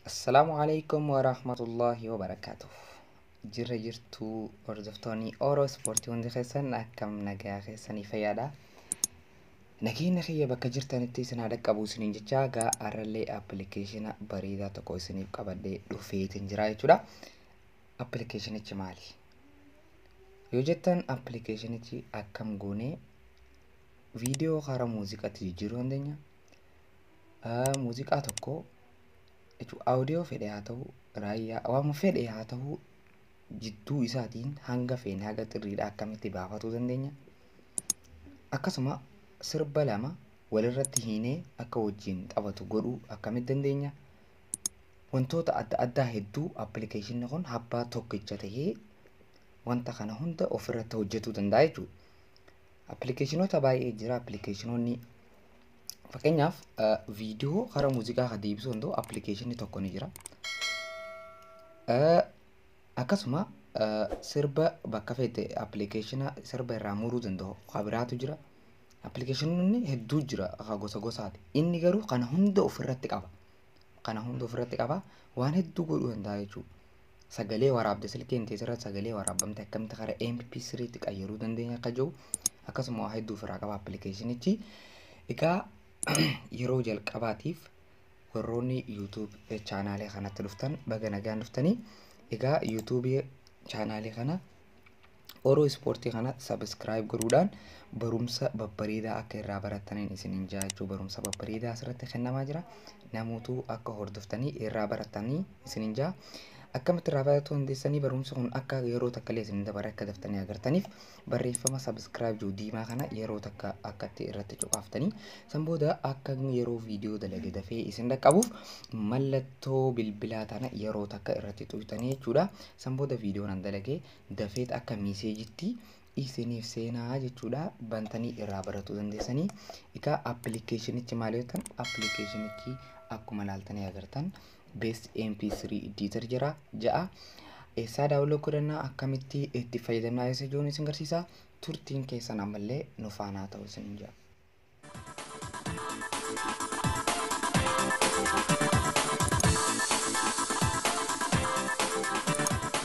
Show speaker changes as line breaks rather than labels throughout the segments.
Assalaamu alaikum wa rahmatullahi wa barakaatuh. Jirra jirtuu hordoftoonni Oro Ispoortii hundi keessan akkam nagaa keessanii fayyaadha. Nageenya kiyya bakka jirtanitti isin haa dhaqqabu isiniin jecha gaa har'allee appilikeeshina bareedaa tokko isiniif qabadhee dhufeetiin jira jechuudha. Appilikeeshinichi maali? Yoo jettan appilikeeshinichi akkam goonee Viidiyoo karaa muuziqaatti jijjiiruu dandeenya. Ah, Muuziqaa tokko jechuun audio fedhe haa ta'u, raayyaa waan fedhe haa ta'u jidduu isaatiin hanga feene haga xirriidhaa akkamitti baafatuu dandeenya. Akkasuma sirba lama walirratti hiinee akka wajjin taphatu godhuu akkamitti dandeenya. Wantoota adda addaa hedduu appilikeeshinni kun abbaa tokkicha ta'ee wanta kana hunda ofirratti hojjetuu danda'a jechuudha. Appilikeeshinoota baay'ee jira appilikeeshinoonni fakkeenyaaf viidiyoo gara muuziqaa kan deebisuu danda'u appilikeeshinni tokko ni jira. Akkasuma sirba bakka feete appilikeeshina sirba irraa muruu danda'u kan biraatu jira. Appilikeeshinoonni hedduu jira kan gosa gosaati. Inni garuu kana hunda ofirratti qaba. kana hunda ofirratti qaba waan hedduu godhuu danda'a jechuudha. Sagalee waraabde silkiin teessa irratti sagalee waraabamte akkamitti kara MP3 tti qayyaruu dandeenya akka jiru akkasuma waa hedduu ofirraa qaba appilikeeshinichi. Egaa yeroo jalqabaatiif warroonni YouTube chaanaalee kanatti dhuftan baga nagaan dhuftanii. Egaa YouTube chaanaalee kana Oro Ispoortii kana subscribe godhuudhaan barumsa babbareedaa akka irraa barattaniin isinin jaachuu barumsa babbareedaa asirratti kennamaa jira. Namootuu akka hordoftanii irraa barattanii isinin jaa. Akkamitti irraa baratuu dandeessanii barumsi kun akka yeroo takka illee isin dabare akka daftanii agartaniif barreeffama subscribe jiru diimaa kana yeroo takka akkatti irratti cuqaaftanii san booda akka yeroo viidiyoo dalage dafee isin dhaqqabuuf mallattoo bilbilaa tana yeroo takka irratti xuqxanii jechuudha. San booda viidiyoon an dalage dafeet akka miiseejitti isiniif seenaa jechuudha bantanii irraa baratuu dandeessanii egaa appilikeeshinichi maal yoo ta'an appilikeeshinichi akkuma laaltanii agartan bees mp3 iddiitar jira ja'a eessaa daawuloo godhannaa akkamitti itti fayyadamnaa isa jiruun isin garsiisa turtiin keessan ammallee nufaanaa ta'uu isin jira.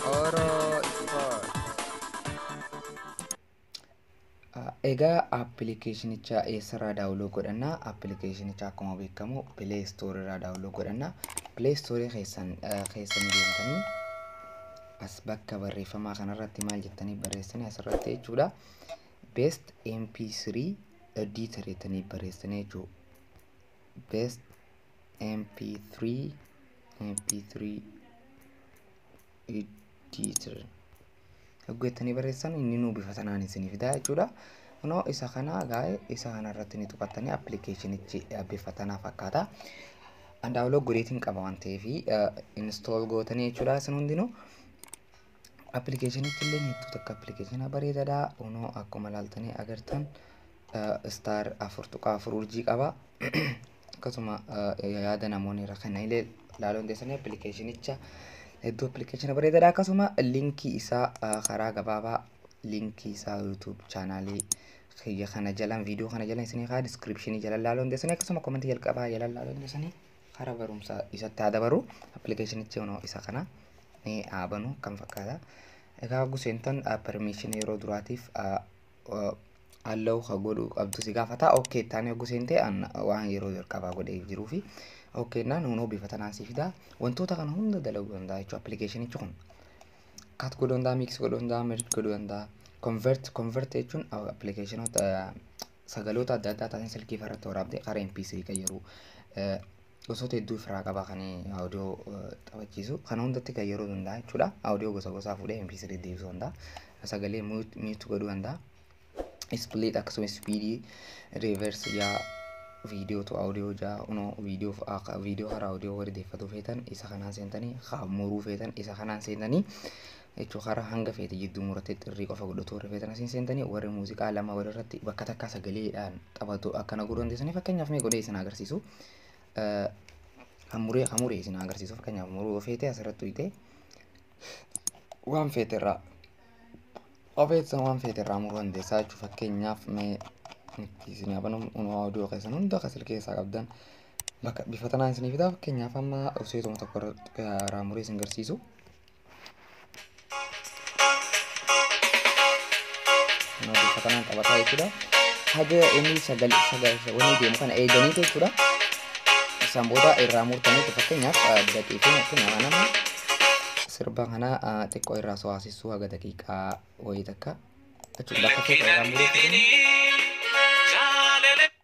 Oro Sport. Egaa appilikeeshinicha eessarraa daawuloo godhanna? Appilikeeshinicha akkuma beekamu Play Store irraa daawuloo godhanna. Play Store keessan keessa ni deemtanii as bakka barreeffamaa kanarratti maal jettanii barreessanii asirratti jechuudha. Best MP3 editor jettanii barreessanii jechuudha. Best MP3 MP3 editor yogguu jettanii barreessan inni nuu bifa sanaan isinii fidaa jechuudha. Kunoo isa kana gaa'e isa kana irratti ni tuqattanii appilikeeshinichi bifa tanaa fakkaata. Andaawuloo godheetiin qaba waan ta'eef install gootanii jechuudha isin hundinuu. Appilikeeshinichi illee hedduu takka appilikeeshina bareedaadha. Unoo akkuma ilaaltanii agartan istaar afur tuqaa afur urjii qaba. Akkasuma yaada namoonni irra kennan illee ilaaluu dandeessanii appilikeeshinicha hedduu appilikeeshina bareedaadha. Akkasuma liinkii isaa karaa gabaabaa liinkii isaa yuutuub chaanaalii kiyya kana jalan viidiyoo kana jalan isinii kaa diskiripshinii jalan ilaaluu dandeessanii akkasuma komentii jalqabaa jalan ilaaluu dandeessanii. Kara barumsaa isatti haa dabaru. Appilikeeshinichi kunoo isa kana ni haa banu kan fakkaata. Egaa hogguu seentan permission yeroo duraatiif allow ka godhu qabdu si gaafata. OK taanee hogguu seente waan yeroo jalqabaa godhee jiruu fi OK naan hunoo bifa tanaan si fida. Wantoota kana hunda dalaguu danda'a jechuudha appilikeeshinichi kun. Kat godhuu danda'a, mix godhuu danda'a, merge godhuu danda'a. Convert, convert jechuun appilikeeshinoota sagaloota adda addaa taasiin silkii farratti waraabde karaa MP3 qayyaruu gosoota hedduu ofirraa qaba kan audio taphachiisu kana hundatti kan yeroo danda'a jechuudha audio gosa gosaa fuudhee MP3 deebisuu danda'a sagalee mute godhuu danda'a split akkasumas speedii reverse yaa viidiyoo tu audio jaa unoo viidiyoo viidiyoo karaa audio warri deeffatu feetan isa kanaan seentanii haa muruu feetan isa kanaan seentanii H Karaa hanga feete jidduu murattee xirrii qofa godhatu rifeeta na siin seentanii warri muuziqaa lama walirratti bakka takkaa sagaleedhaan taphatu akka naguu dandeessanii fakkeenyaaf mee godhee isin haa agarsiisu. Hamuree hamuree isin haa agarsiisu fakkeenyaaf muruu feetee asirratti tuyxee waan feete irraa ofeetsan waan feete irraa muruu dandeessaa jechuudha fakkeenyaaf mee itti isin haa banuu unoo oduu keessan hunda akka silkii keessaa qabdan bakka bifa tanaan isinii fidaa fakkeenyaaf amma useetuma tokko irraa muree isin garsiisu. Kana bifa kanaan taphataa jechuudha. Haga inni sagal sagal wanni deemu kana eeganii jechuudha. Isaan booda irraa murtanii fakkeenyaaf daqiiqaa fakkeenyaaf nama sirba kana xiqqoo irraa sohaasisuu haga daqiiqaa wayii takka jechuudha. Bakka keessa irraa muruu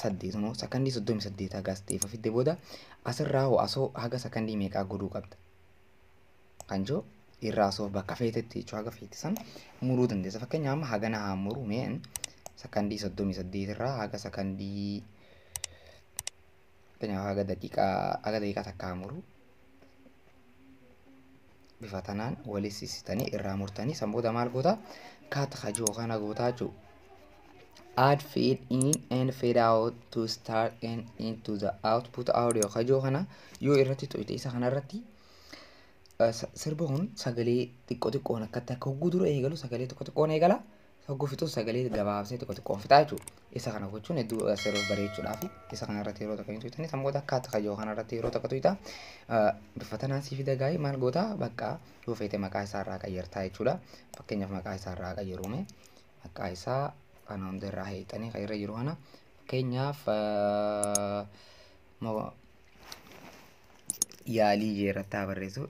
saddeet moo sakandii soddomii saddeet haga as ta'eef fidde booda asirraa hoo asoo haga sakandii meeqaa godhuu qabda kan jiru irraa asoo bakka feetetti jechuu haga feete san muruu dandeessa fakkeenya amma hagana haa muru mee sakandii soddomii saddeet irraa haga sakandii fakkeenyaaf haga daqiiqaa haga daqiiqaa takka haa muru bifa tanaan waliin sissitanii irraa murtanii san booda maal goota kaat hajoo kana gootaa jechuudha. add feed in and feed out to start and into the output audio hajoo kana yoo irratti tuqite isa kana irratti sirba kun sagalee xiqqoo xiqqoon akkatti akka hogguu dura eegalu sagalee tokko xiqqoon eegala Hogguu fixus sagalee gabaabsee tokko xiqqoon fixaa jechuudha. Isa kana gochuun hedduu yeroo bareechuudhaaf isa kana irratti yeroo takka hin tuytanii sammoota akka takka yoo kana irratti yeroo takka tuyta bifa tanaan sii fida gaa'ii maal goota bakka yoo feete maqaa isaa irraa qayyartaa jechuudha. Fakkeenyaaf maqaa isaa irraa qayyaruume maqaa isaa kana hunda irraa heexanii kan irra jiru kana fakkeenyaaf yaalii jee irratti haa barreessu.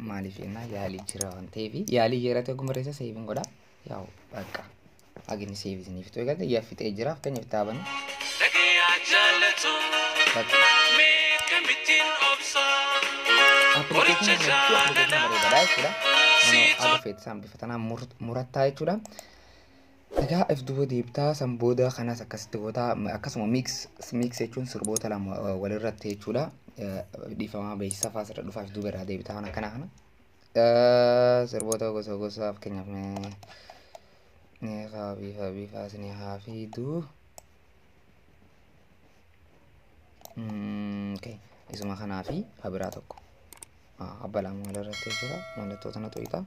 maaliif jennaa yaalii jira waan ta'eef yaalii jeerate oguma reessa seeviin godha yaa'u bakka agini seevi isiniif ta'u eegalte yaa fixee jira fakkeenyaaf taabani Dhagayaa jaallatu bakka mee kamittiin obsa qoricha jaalala bareedaadha jechuudha. Nama haala feetisaan bifa tanaan murattaa jechuudha. Egaa if duuba deebtaa san booda kanas akkasitti gootaa akkasuma mix mix jechuun sirboota lama walirratti jechuudha dhiifamaa beeksisa faas irra dhufaaf duuba irraa deebitaa waan akkana kana sirboota gosa gosa fakkeenyaaf ni haa biifa biifaas ni haa fiiduu isuma kanaa fi habiraa tokko. Abba lama walirratti jira. Mallattoo tana tuqxa.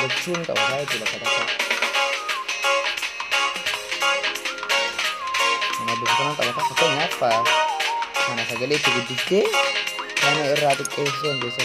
Lachuu ni qabataa jechuudha sadarkaa. Kanaaf bifa kana qabataa fakkeenyaaf kana sagalee itti guddiftee kana irraa xiqqeessuu dandeessa.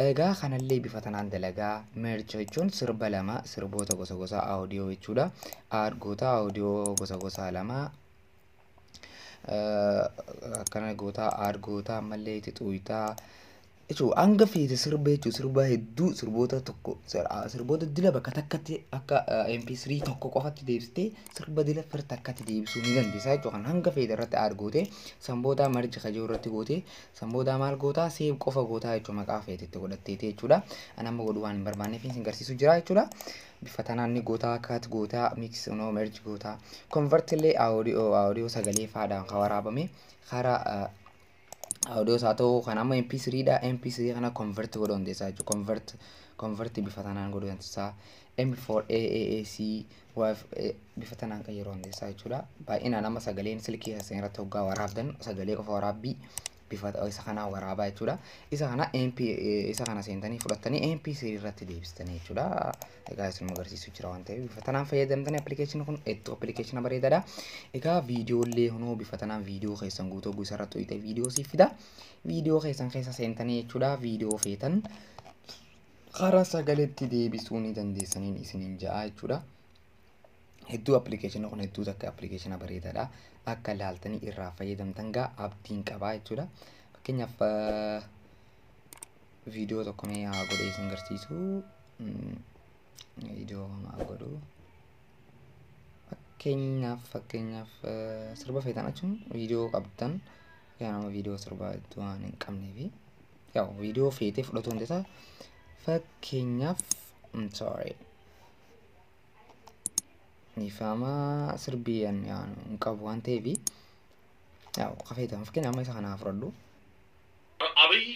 Egaa kanallee bifa tanaan dalagaa. Merge jechuun sirba lama, sirboota gosa gosaa audio jechuudha. Add goota audio gosa gosaa lama. Akkana goota add goota ammallee itti xuuyta. Jechuun hanga feete sirba jechuun sirba hedduu sirboota tokko sirboota dila bakka takkatti akka MP3 tokko qofatti deebistee sirba dila fir takkatti deebisuu ni dandeessaa jechuudha. Kan hanga feete irratti add gootee sanboodaa marji kajoo irratti gootee San boodaa maal gootaa seev qofa gootaa jechuudha maqaa feete itti godhatteeti jechuudha. Ani amma godhuu waan hin barbaanneef isin garsiisu jira jechuudha. Bifa tanaan ni gootaa kaat gootaa mix no merge gootaa convert illee audio audio sagalee faadhaan kan waraabame kara audio isaa ta'uu kan amma mp3 dha mp3 kana convert godhuu dandeessaa jechuudha convert convert bifa tanaan godhuu dandeessaa m4 aac waaf eh, bifa tanaan kan yeroo hundeessaa jechuudha. Baay'inaan amma sagaleen silkii keessan irratti hoggaa waraabdan sagalee qofa waraabbii bifa isa kanaa waraabaa jechuudha. Isa kana MP eh, isa kana seentanii fudhattanii MP3 irratti deebistanii jechuudha. Egaa isin agarsiisu jira waan ta'eef bifa tanaan fayyadamtanii appilikeeshinii kun itti appilikeeshina bareedaadha. Egaa viidiyoollee kunoo bifa tanaan viidiyoo keessan guutuu hogguu isarra tuqxee viidiyoo siif fida. Viidiyoo keessan keessa seentanii jechuudha viidiyoo feetan Karaa sagaletti deebisuu ni dandeessaniin isiniin ja'a jechuudha. Hedduu appilikeeshina kun hedduu takka appilikeeshina bareedaadha. Akka laaltanii irraa fayyadamtan gaa abdiin qabaa jechuudha. Fakkeenyaaf viidiyoo tokko mee haa godhee isin garsiisu. Viidiyoo haa godhu. Fakkeenyaaf fakkeenyaaf sirba feetan achuun viidiyoo qabdan. yaa nama viidiyoo sirbaa iddoo waan hin qabnee fi yaa viidiyoo feetee fudhatuu hin dandeessa. Fakkeenyaaf I'm sorry. Dhiifama sirbii an yaanu hin qabu waan ta'eef yaa kafeetan fakkeenyaaf amma isa kanaa fudhadhu.
Abiy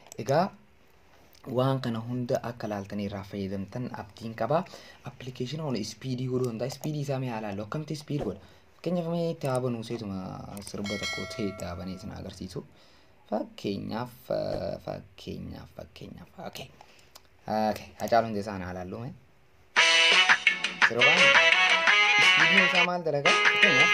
Egaa waan kana hunda akka laaltanii irraa fayyadamtan abdiin qaba. Appilikeeshina kun ispiidii godhuu danda'a. Ispiidii isaa mee haa laallu. Akkamitti ispiid godha? Fakkeenyaaf mee taaba nuu seetuma sirba tokko ta'e taabanii isin agarsiisu. Fakkeenyaaf fakkeenyaaf fakkeenyaaf. Okay. Okay. Hacaaluu Hundeessaa haa laallu mee. Sirbaan ispiidiin isaa maal dalagaa? Fakkeenyaaf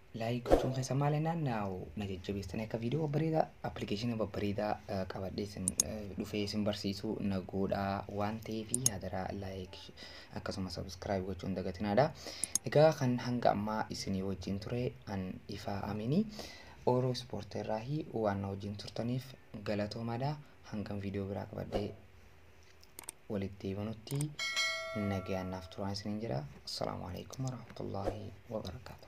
Laayik gochuun keessa maal jennaan na jajjabeessitanii akka viidiyoo babbareedaa appilikeeshinii babbareedaa qabadhee isin dhufee isin barsiisuu na godhaa waan ta'eef hadaraa laayik akkasuma sabiskiraayib gochuun dagatinaadha. Egaa kan hanga ammaa isinii wajjin ture an ifaa aminii ooroo ispoortii irraa waan na wajjin turtaniif galatoomaadha hangam viidiyoo biraa qabadhee walitti deebinutti nagaan naaf turaan isiniin jedha. Assalaamu alaikum warahmatullaahi wabarakaatu.